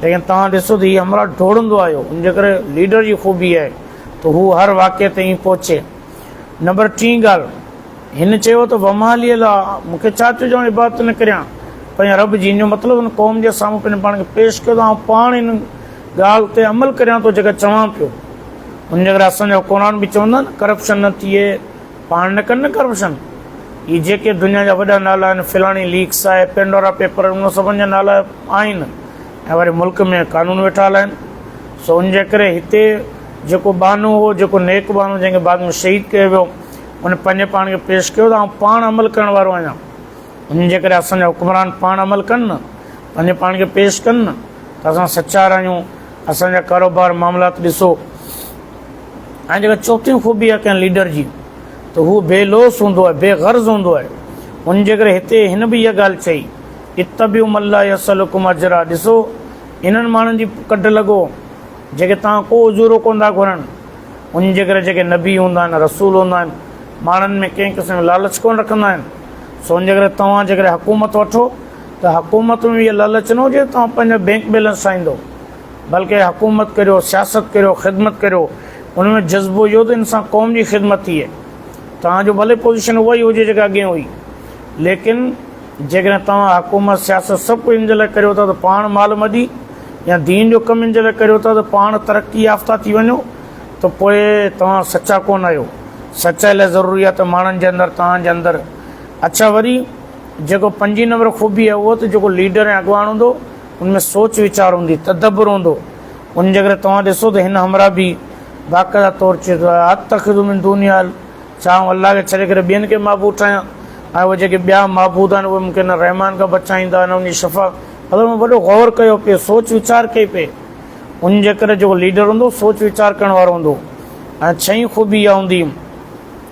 ليڪن توهان ڏسو ته هي همرا ڊوڙندو آيو ان جي ڪري ليڊر جي خوبي آهي ته هو هر واقعي تائين پهچي نمبر ٽين ڳالهه هن چيو ته ومالي الله مون کي ڇا ٿيو جو آئون عبادت نه ڪريان پنهنجا رب جن جو مطلب ان قوم جي سامهون پنهنجو پاڻ کي پيش ڪيو ته آئون پاڻ هن ڳالهه تي عمل ڪريان ٿو جيڪا چوان پيو ان جي ڪري اسان جو قرآن به چوندا آهن ڪرپشن نه ٿئي پاڻ نه ڪن نه ڪرپشن هي جيڪي دنيا جا وڏا نالا آهن فلاڻي ليڪس آهي پينڊورا پيپر ان سڀن جا نالا آهن ۽ وري ملڪ ۾ قانون ويٺا هلائن سو ان جي ڪري هتي جيڪو ٻانهو هو جيڪو نيڪ ٻانهو جنهن کي بعد ۾ شهيد ڪيو ويو ان پنهنجي پاڻ کي پيش ڪيو ته آئون پاڻ عمل ڪرڻ وارو آهيان ان جي ڪري اسان جا حڪمران پاڻ عمل ڪن نه پنهنجي پاڻ کي پيش ڪن نه ته اسان سچار آهيون اسان جا ڪاروبار معاملات ڏسو ۽ جيڪا چوٿين خوبي آهي ڪنهن ليڊر جي ته هو بي لوث هوندو آهي، بي غرض هوندو آهي. ان جي ڪري هتي هن به اها ڳالهه چئي، اتبعوا من لا يسئلڪم اجرا، ڏسو انهن ماڻهن جي ڪڍ لڳو جيڪي توهان ڪو اجورو ڪونه ٿا گهرن. ان جي ڪري جيڪي نبي هوندا آهن، رسول هوندا آهن، ماڻهن ۾ ڪنهن قسم جو لالچ ڪونه رکندا آهن. سو ان جي ڪري توهان جيڪڏهن حڪومت وٺو ته حڪومت ۾ به اها لالچ نه هجي ته توهان پنهنجو بينڪ بيلنس ٺاهيندو. بلڪه حڪومت ڪريو، سياست ڪريو، خدمت ڪريو، ان ۾ جذبو اهو ته انسان قوم جي خدمت ٿئي. توهان جو ڀلي پوزيشن اها ئي هجي جيڪا اڳين هئي، ليڪن جيڪڏهن توهان حڪومت، سياست سڀ ڪجهه ان جي لاء ڪريو ٿا ته پاڻ مال مڏي يا دين جو ڪم ان جي لاء ڪريو ٿا ته پاڻ ترقي يافته ٿي وڃو ته پوء توهان سچا ڪونه آهيو. سچائي لاء ضروري آهي ته ماڻهن جي اندر توهان جي اندر اڇا وري جيڪو پنجين نمبر خوبي آهي اهو ته جيڪو ليڊر ۽ اڳواڻ هوندو، ان ۾ سوچ ويچار هوندي، تدبر هوندو، وڃي جيڪڏهن توهان ڏسو ته هن همراهه به باقاعده طور چيو ته اتخذ من دوني آل، ڇا آئون الله کي ڇڏي ڪري ٻين کي معبود ٺاهيان ۽ اهي جيڪي ٻيا معبود آهن اهي مون کي نه رحمان کان بچائيندا نه ان جي شفاعت، مطلب ان وڏو غور ڪيو پئي، سوچ ويچار ڪئي پئي، وڃي جيڪڏهن جيڪو ليڊر هوندو سوچ ويچار ڪرڻ وارو هوندو ۽ ڇهين خوبي اها هوندي.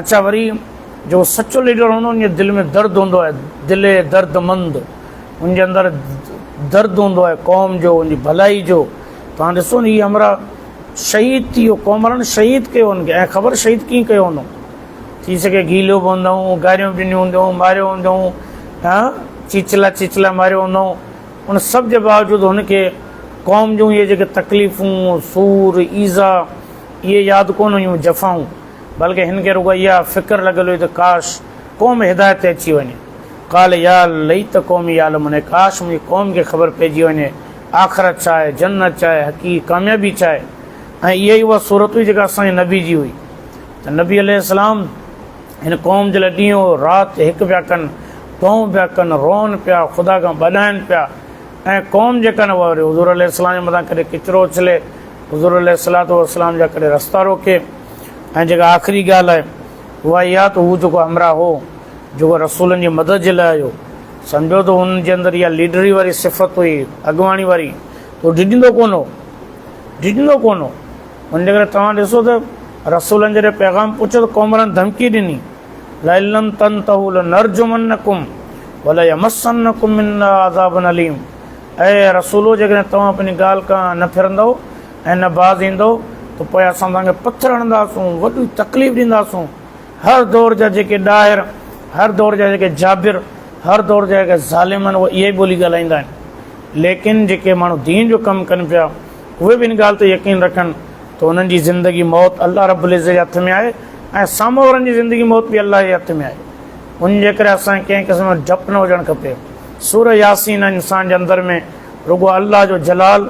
اچا وري جيڪو سچو ليڊر هوندو ان جي دل ۾ درد هوندو آهي دل درد مند ان جي اندر درد هوندو آهي قوم جو ان جي ڀلائي جو توهان ڏسو نه هي همراهه شهيد ٿي ويو قوم وارن شهيد ڪيو هن کي خبر شهيد ڪيئن ڪيو هوندو ٿي سگهي گيلو به هوندائون گاريون ڏنيون هوندائون ماريو هوندائون ها چيچلا چيچلا ماريو هوندائون ان سڀ جي باوجود هن کي قوم جون اهي جيڪي تڪليفون سور ايزا اهي ياد ڪونه هيون جفائون بلڪه هن کي رڳو اها فڪر لڳل هئي ته ڪاش قوم هدايت تي اچي وڃي. قال يا ليت قومي يعلمون اي ڪاش منهنجي قوم کي خبر پئجي وڃي آخرت ڇا آهي، جنت ڇا آهي، حقيقي ڪاميابي ڇا آهي ۽ اها ئي اها صورت هئي جيڪا اسان جي نبي جي هئي ته نبي عليه السلام هن قوم جي لاء ڏينهن رات هڪ پيا ڪن، دونهون پيا ڪن، روئن پيا، خدا کان ٻڏائن پيا ۽ قوم جيڪا نه واري حضور عليه السلام جي مٿان ڪڏهن ڪچرو اڇلي حضور عليه الصلوة والسلام جا ڪڏهن رستا روڪي ۽ جيڪا آخري ڳالهه آهي اها اها ته هو جيڪو همراهه هو جيڪو رسولن جي مدد جي لاء آيو سمجهو ته ان جي اندر اها ليڊري واري صفت هئي اڳواڻي واري ته هو ڊڄندو ڪونه هو ڊڄندو ڪونه هو ان جي ڪري توهان ڏسو ته رسولن جڏهن پيغام پهچو ته قومرن ڌمڪي ڏني لئلم تن تهول نرجمن نقم ڀلي مسن نقم عذاب عليم اي رسولو! جيڪڏهن توهان پنهنجي ڳالهه کان نه ڦرندؤ ۽ نه باز ايندؤ ته پوء اسان توهان کي پٿر هڻنداسون، وڏي تڪليف ڏينداسون. هر دور جا جيڪي ڏاهر، هر دور جا جيڪي جابر، هر دور جا جيڪي ظالم آهن اهي اها ئي ٻولي ڳالهائيندا آهن. ليڪن جيڪي ماڻهو دين جو ڪم ڪن پيا اهي به ان ڳالهه تي يقين رکن ته انهن جي زندگي موت الله رب العزت جي هٿ ۾ آهي ۽ سامهون وارن جي زندگي موت به الله جي هٿ ۾ آهي. ان جي ڪري اسان کي ڪنهن قسم جو ڊپ نه هجڻ کپي. سوره ياسين انسان جي اندر ۾ رڳو الله جو جلال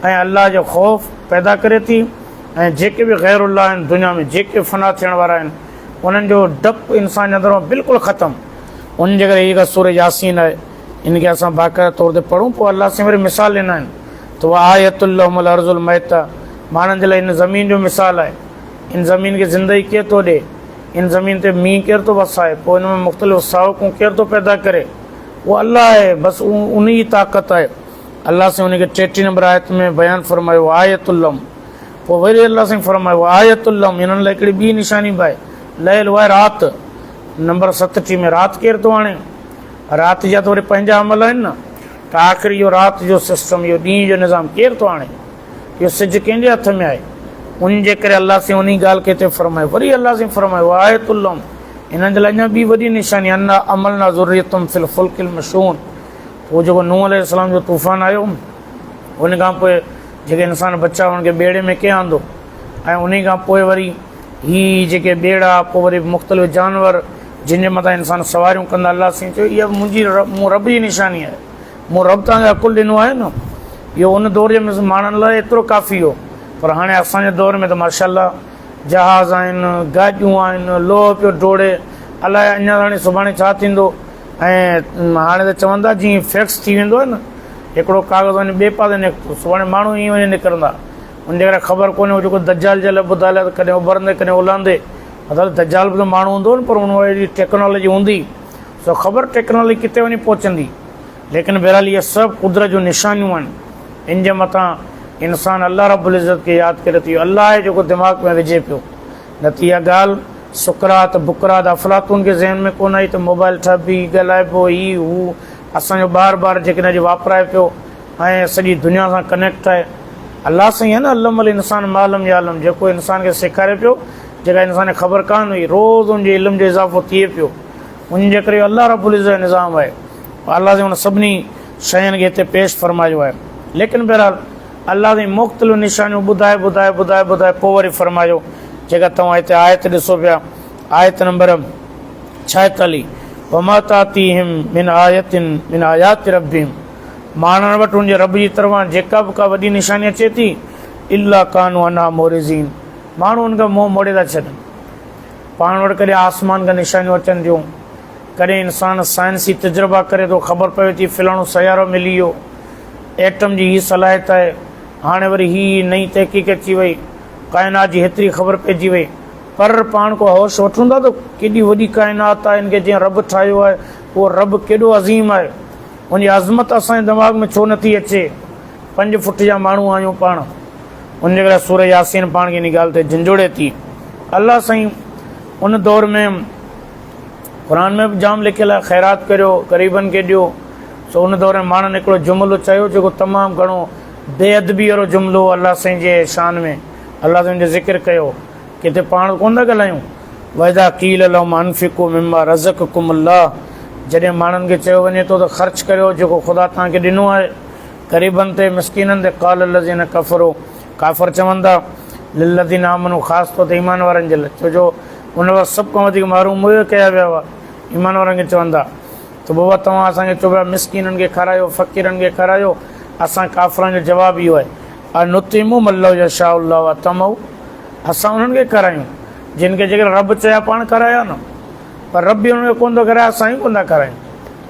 ۽ الله جو خوف پيدا ڪري ٿي ۽ جيڪي به غير الله آهن دنيا ۾ جيڪي به فنا ٿيڻ وارا آهن انهن جو ڊپ انسان جي اندر مان بلڪل ختم ان جي ڪري هيء سوره ياسين آهي ان کي اسان باقاعده طور تي پڙهون پوء الله سائين وري مثال ڏنا آهن ته وآيت لهم الارض الميته ماڻهن جي لاء ان زمين جو مثال آهي ان زمين کي زندگي ڪير ٿو ڏي هن زمين تي مينهن ڪير ٿو وسائي، پوء ان ۾ مختلف ساهوڪون ڪير ٿو پيدا ڪري، اهو الله آهي، بس انهي ئي طاقت آهي. الله سائين ان کي ٽيٽي نمبر آيت ۾ بيان فرمايو آية اللم پوء وري الله سائين فرمايو آية اللم انهن لاء هڪڙي ٻي نشاني به آهي ليل اها آهي رات نمبر ستٽيهه ۾ رات ڪير ٿو آڻي رات جا ته وري پنهنجا عمل آهن نه ته آخر اهو رات جو سسٽم اهو ڏينهن جو نظام ڪير ٿو آڻي اهو سج ڪنهن جي هٿ ۾ آهي؟ ان جي ڪري الله سائين انهي ڳالهه کي هتي فرمايو. وري الله سائين فرمايو، وآية لهم، انهن جي لاء اڃا ٻي وڏي نشاني، انا حملنا ذريتهم في الفلک المشحون، اهو جيڪو نوح عليه السلام جو طوفان آيو، ان کان پوء جيڪي انسان بچا انهن کي ٻيڙي ۾ ڪنهن آندو ۽ انهي کان پوء وري هي جيڪي ٻيڙا پوء وري مختلف جانور جن جي مٿان انسان سواريون ڪندا، الله سائين چيو اها به منهنجي مون رب جي نشاني آهي. مون رب توهان کي عقل ڏنو آهي نه اهو ان دوري ۾ ماڻهن لاء ايترو ڪافي هو پر هاڻي اسان جي دور ۾ ته ماشاء الله جهاز آهن گاڏيون آهن لوهه پيو ڊوڙي الاء اڃا هاڻي سڀاڻي ڇا ٿيندو ۽ هاڻي ته چون ٿا جيئن فيڪس ٿي ويندو آهي نه هڪڙو ڪاغذ وڃي ٻئي پاسي نڪتو سڀاڻي ماڻهو ائين وڃي نڪرندا ان جي ڪري خبر ڪونهي هو جيڪو دجال جي لاء ٻڌايل آهي ڪڏهن اڀرندي ڪڏهن اولهندي مطلب دجال به ته ماڻهو هوندو پر ان وقت جي ٽيڪنالاجي هوندي سو خبر ٽيڪنالي ڪٿي وڃي پهچندي ليڪن بهرحال اهي سڀ قدرت جون نشانيون آهن ان جي مٿان انسان الله رب العزت کي ياد ڪري ٿو الله آهي جيڪو دماغ ۾ وجهي پيو نه ته اها ڳالهه سقراط بقراط افلاطون کي ذهن ۾ ڪونه آئي ته موبائل ٺهبي ڳالهائبو هي هو اسان جو ٻار ٻار جيڪڏهن اڄ واپرائي پيو ۽ سڄي دنيا سان ڪنيڪٽ آهي الله سائين آهي نه علم الانسان معلم يا علم جيڪو انسان کي سيکاري پيو جيڪا انسان کي خبر ڪانه هئي روز ان جي علم جو اضافو ٿئي پيو انهن جي ڪري الله رب العزت جو نظام آهي ۽ الله سائين ان سڀني شين کي هتي پيش فرمايو آهي ليڪن بهرحال الله سائين مختلف نشانيون ٻڌائي ٻڌائي ٻڌائي ٻڌائي پوء وري فرمايو جيڪا توهان هتي آيت ڏسو پيا آيت نمبر ڇاهيتاليهه وماتاتيهم من آيت من آيات ربهم ماڻهن وٽ ان جي رب جي طرفان جيڪا به ڪا وڏي نشاني اچي ٿي الا ڪانو انا مورزين ماڻهو ان کان منهن موڙي ٿا ڇڏن پاڻ وٽ ڪڏهن آسمان کان نشانيون اچن ٿيون، ڪڏهن انسان سائنسي تجربا ڪري ٿو خبر پوي ٿي فلاڻو سيارو ملي ويو. ايٽم جي هي صلاحيت آهي. هاڻي وري هي ئي نئين تحقيق اچي وئي. ڪائنات جي هيتري خبر پئجي وئي. پر پاڻ ڪو هوش وٺون ٿا ته ڪيڏي وڏي ڪائنات آهي ان کي جنهن رب ٺاهيو آهي اهو رب ڪيڏو عظيم آهي. ان جي عظمت اسان جي دماغ ۾ ڇو نٿي اچي. پنج فٽ جا ماڻهو آهيون پاڻ. ان جي ڪري سوره ياسين پاڻ کي ان ڳالهه تي جنجهوڙي ٿي. الله سائين ان دور ۾ قرآن ۾ به جام لکيل آهي خيرات ڪريو غريبن کي ڏيو سو ان دور ۾ ماڻهن هڪڙو جملو چيو جيڪو تمام گهڻو بي ادبي وارو جملو هو الله سائين جي شان ۾ الله سائين جو ذڪر ڪيو ڪٿي پاڻ ڪونه ٿا ڳالهايون واذا قيل لهم انفقوا مما رزقكم الله جڏهن ماڻهن کي چيو وڃي ٿو ته خرچ ڪريو جيڪو خدا توهان کي ڏنو آهي غريبن تي، مسڪينن تي، قال الذين كفروا ڪافر چوندا، للذين آمنوا خاص طور تي ايمان وارن جي لاء ڇو جو ان وقت سڀ کان وڌيڪ محروم اهي ڪيا ويا هئا ايمان وارن کي چوندا ته بابا توهان اسان کي چئو پيا مسڪينن کي کارايو فقيرن کي کارايو اسان ڪافرن جو جواب اهو آهي انطعموا من لو يشاء الله واطعموا اسان انهن کي کارايون جن کي جيڪڏهن رب چيا پاڻ کارايا نه پر رب به انهن کي ڪونه ٿو کارايا اسان ئي ڪونه ٿا کارايون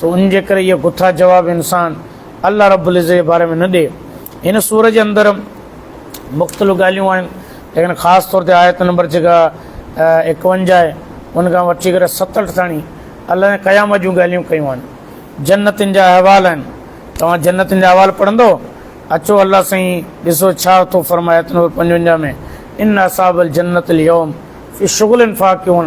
سو انهن جي ڪري اهو ڪٿا جواب انسان الله رب العزت جي باري ۾ نه ڏئي. هن سورة جي اندر مختلف ڳالهيون آهن ليڪن خاص طور تي آيت نمبر جيڪا ايڪونجاهه آهي ان کان وٺي ڪري ستهٺ تاڻي الله جي قيامت جون ڳالهيون ڪيون آهن جنتن جا احوال آهن توهان جنتن جا احوال پڙهندو اچو الله سائين ڏسو ڇا ٿو فرمايت نمبر پنجونجاهه ۾ ان اصحاب الجنت اليوم في شغل فاقيون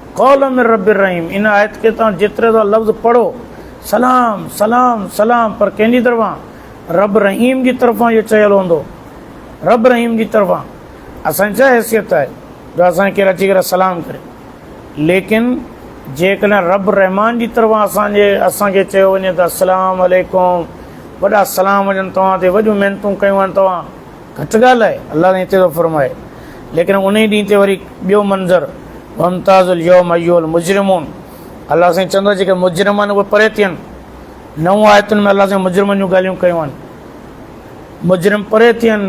قولا من رب الرحيم ان آيت کي توهان جيتري ٿا لفظ پڙهو سلام سلام سلام پر ڪنهن جي طرفان رب رحيم جي طرفان اهو چيل هوندو رب رحيم جي طرفان اسان جي ڇا حيثيت آهي جو اسان کي اچي ڪري سلام ڪري ليڪن جيڪڏهن رب رحمان جي طرفان اسان جي اسان کي چيو وڃي ته السلام عليڪم وڏا سلام وڃن توهان تي وڏيون محنتون ڪيون آهن توهان گهٽ ڳالهه آهي، الله تائين هتي ٿو فرمائي، ليڪن انهي ڏينهن تي وري ٻيو منظر، وامتازوا اليوم ايها المجرمون، الله سائين چوندو جيڪي مجرم آهن اهي پري ٿين، نو آيتن ۾ الله سائين مجرمن جون ڳالهيون ڪيون آهن، مجرم پري ٿين،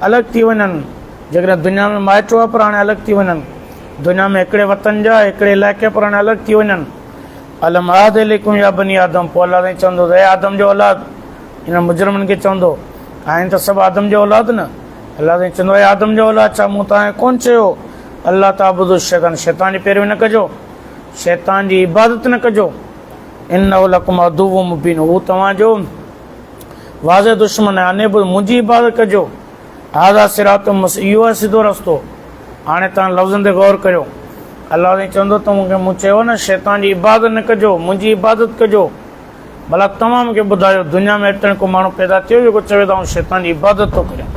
الڳ ٿي وڃن، جيڪڏهن دنيا ۾ مائٽ هئا پر هاڻي الڳ ٿي وڃن، دنيا ۾ هڪڙي وطن جا هڪڙي علائقي پر هاڻي الڳ ٿي وڃن، الم اعهد اليڪم يا بني آدم، پوء الله سائين چوندو ته اي آدم جو اولاد! انهن مجرمن کي چوندو، آهن ته سڀ آدم جا اولاد نه؟ الله سائين چوندو، اي آدم جا اولاد! ڇا مون توهان کي ڪونه چيو هو، الله تعبدوا الشيطان، شيطان جي پيروي نه ڪجو، شيطان جي عبادت نه ڪجو، انه لڪم عدو مبين، هو توهان جو واضح دشمن آهي، ان اعبدوا، منهنجي عبادت ڪجو، هذا صراط مس، اهو آهي سڌو رستو، هاڻي توهان لفظن تي غور ڪريو، الله سائين چوندو، توهان کي مون چيو هو نه، شيطان جي عبادت نه ڪجو، منهنجي عبادت ڪجو. ڀلا توهان مون کي ٻڌايو دنيا ۾ اتڻ ڪو ماڻهو پيدا ٿيو جيڪو چوي ته آئون شيطان جي عبادت ٿو ڪريان.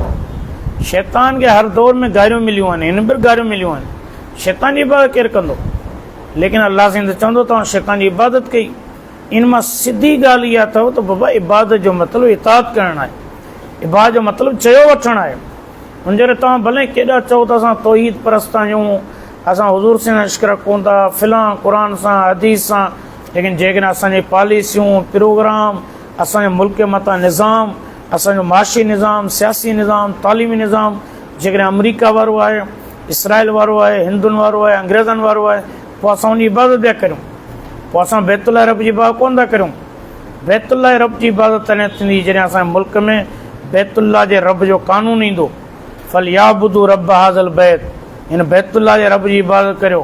شيطان کي هر دور ۾ گاريون مليون آهن هن به گاريون مليون آهن. شيطان جي عبادت ڪير ڪندو؟ ليڪن الله سائين ته چوندو ته آئون شيطان جي عبادت ڪئي. ان مان سڌي ڳالهه اها اٿئو ته بابا عبادت جو مطلب اطاعت ڪرڻ آهي. عبادت جو مطلب چيو وٺڻ آهي. ان ڪري توهان ڀلي ڪيڏا چئو ته اسان توحيد پرست آهيون اسان حضور سائين سان عشق رکون ٿا فلان قرآن سان حديث سان ليڪن جيڪڏهن اسان جي پاليسيون، پروگرام، اسان جو ملڪ جي متان نظام، اسان جو معاشي نظام، سياسي نظام، تعليمي نظام جيڪڏهن آمريڪا وارو آهي، اسرائيل وارو آهي، هندن وارو آهي، انگريزن وارو آهي پوء اسان ان جي عبادت پيا ڪريون. پوء اسان بيت الله رب جي عبادت ڪونه ٿا ڪريون. بيت الله رب جي عبادت تڏهن ٿيندي جڏهن اسان جي ملڪ ۾ بيت الله جي رب جو قانون ايندو. فليعبدوا رب هذا البيت هن بيت الله جي رب جي عبادت ڪريو.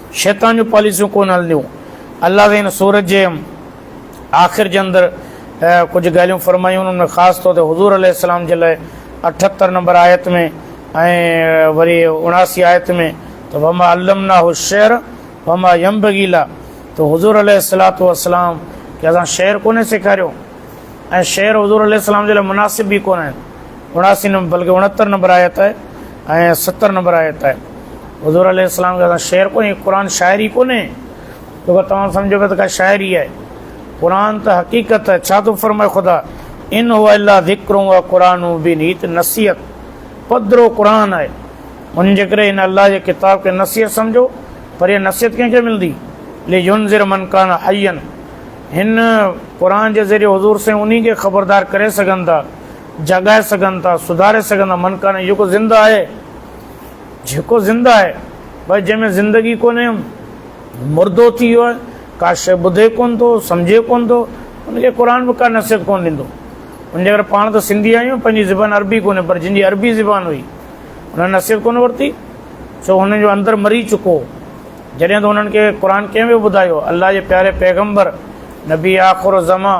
شيطان جون پاليسيون ڪونه هلنديون. الله تعالي هن سورت جي آخر جي اندر ڪجهه ڳالهيون فرمايون انهن ۾ خاص طور تي حضور عليه السلام جي لاء اٺهتر نمبر آيت ۾ ۽ وري اڻاسي آيت ۾ ته وما علمناه الشعر وما ينبغي له ته حضور عليه الصلاة والسلام کي اسان شعر ڪونه سيکاريو ۽ شعر حضور عليه السلام جي لاء مناسب به ڪونه آهن. اڻاسي نمبر بلڪه اڻهتر نمبر آيت آهي ۽ ستر نمبر آيت آهي حضور عليه السلام کي شعر ڪونهي قرآن شاعري ڪونهي تو کي توهان سمجھو پيا ته ڪا شاعري آهي قرآن ته حقيقت آهي ڇا ٿو فرمائي خدا ان هو الا ذڪر و قرآن بن هي ته نصيحت پڌرو قرآن آهي ان جي ڪري ان الله جي ڪتاب کي نصيحت سمجھو پر هي نصيحت ڪنهن کي ملندي لي ينذر من کان حين هن قرآن جي ذريعي حضور سائين انهي کي خبردار ڪري سگھن ٿا جاڳائي سگهن ٿا، سڌاري سگهن ٿا، من ڪانهي جيڪو زنده آهي، جيڪو زنده آهي، ڀاء جنهن ۾ زندگي ڪونهي هو مردو ٿي ويو آهي، ڪا شيء ٻڌي ڪونه ٿو، سمجهي ڪونه ٿو، ان کي قرآن به ڪا نصيحت ڪونه ڏيندو. ان جي ڪري پاڻ ته سنڌي آهيون، پنهنجي زبان عربي ڪونهي، پر جن جي عربي زبان هئي، انهن نصيحت ڪونه ورتي، ڇو هنن جو اندر مري چڪو هو، جڏهن ته انهن کي قرآن ڪنهن پيو ٻڌايو، الله جي پياري پيغمبر، نبي آخرالزمان،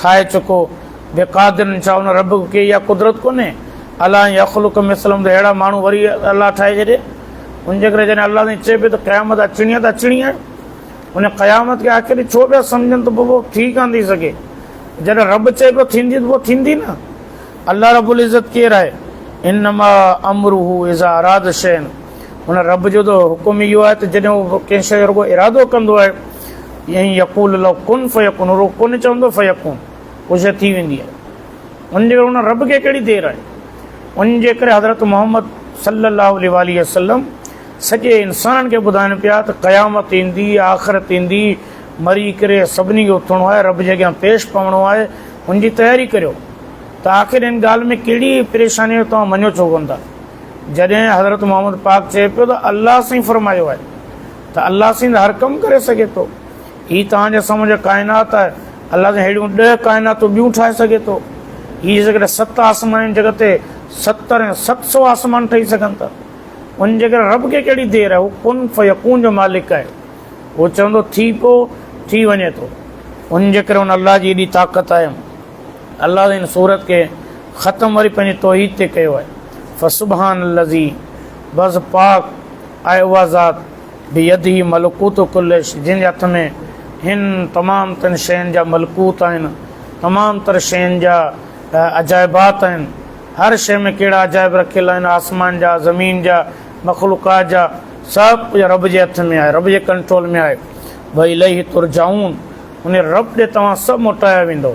ٺاهي چڪو بي قادر ان ڇا ان رب کي اها قدرت ڪونهي الله ان يخلق مثلهم ته اهڙا ماڻهو وري الله ٺاهي ڇڏي ان جي ڪري جڏهن الله سائين چئي پيو ته قيامت اچڻي آهي ته اچڻي آهي ان قيامت کي آخر ڇو پيا سمجھن ته پوء ٿي ڪان ٿي سگھي جڏهن رب چئي پيو ٿيندي ته پوء ٿيندي نه الله رب العزت ڪير آهي انما امره اذا اراد شين هن رب جو ته حڪم ئي اهو آهي ته جڏهن هو ڪنهن شيء جو رڳو ارادو ڪندو آهي ائين ئي يقول الله ڪن فيڪون هو رڳو ڪن چوندو فيڪون هو شيء ٿي ويندي آهي ان جي ڪري ان رب کي ڪهڙي دير آهي ان جي ڪري حضرت محمد صلي الله عليه وآله وسلم سڄي انسانن کي ٻڌائن پيا ته قيامت ايندي آخرت ايندي مري ڪري سڀني کي اٿڻو آهي رب جي اڳيان پيش پوڻو آهي ان جي تياري ڪريو ته آخر ان ڳالهه ۾ ڪهڙي پريشانيء جو توهان مڃو ڇو ڪونه ٿا؟ جڏهن حضرت محمد پاڪ چئي پيو ته الله سائين فرمايو آهي ته الله سائين ته هر ڪم ڪري سگهي ٿو. هي توهان جي سمجهه ڪائنات آهي، الله سائين ههڙيون ڏهه ڪائناتون ٻيون ٺاهي سگهي ٿو. هي جيڪڏهن ست آسمان آهن جڳ تي ستر ۽ ست سؤ آسمان ٺهي سگهن ٿا. ان جيڪڏهن رب کي ڪهڙي دير آهي، هو ڪن فيڪون جو مالڪ آهي. هو چوندو ٿي پئو، ٿي وڃي ٿو. ان جيڪڏهن ان الله جي ايڏي طاقت آهي. الله تعالي هن سورت کي ختم وري پنهنجي توحيد تي ڪيو آهي فسبحان الذي بس پاڪ آهي اها ذات بيده ملڪوت ڪل شي جنهن جي هٿ ۾ هن تمام تن شين جا ملڪوت آهن تمام تر شين جا عجائبات آهن هر شي ۾ ڪهڙا عجائب رکيل آهن آسمان جا زمين جا مخلوقات جا سڀ ڪجهه رب جي هٿ ۾ آهي رب جي ڪنٽرول ۾ آهي وئي لئي ترجعون ان رب ڏي توهان سڀ موٽايا ويندو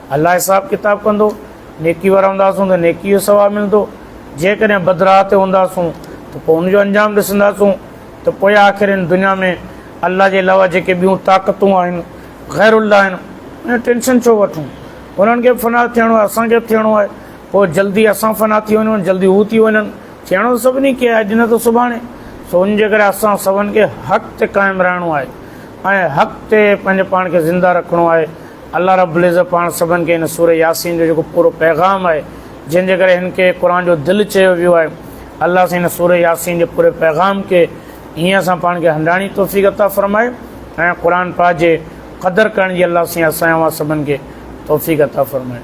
الله حساب ڪتاب ڪندو، نيڪي وارا هونداسون ته نيڪي جو ثواب ملندو، جيڪڏهن بد راهه تي هونداسون ته پوء ان جو انجام ڏسنداسون ته پوء آخر هن دنيا ۾ الله جي علاوه جيڪي ٻيون طاقتون آهن غير الله آهن انهن جو ٽينشن ڇو وٺون انهن کي به فنا ٿيڻو آهي اسان کي به ٿيڻو آهي پوء جلدي اسان فنا ٿي وڃون جلدي هو ٿي وڃن ٿيڻو ته سڀني کي آهي اڄ نه ته سڀاڻي سو ان جي ڪري اسان سڀن کي حق تي قائم رهڻو آهي ۽ حق تي پنهنجي پاڻ کي زنده رکڻو آهي الله رب العزت پاڻ سڀن کي هن سورة ياسين جو جيڪو پورو پيغام آهي جنهن جي ڪري هن کي قرآن جو دل چيو ويو آهي الله سائين هن سورة ياسين جي پوري پيغام کي هيئن اسان پاڻ کي هنڊاڻي توفيق عطا فرمائي ۽ قرآن پاڪ جي قدر ڪرڻ جي الله سائين اسان اوهان سڀن کي توفيق عطا فرمائي.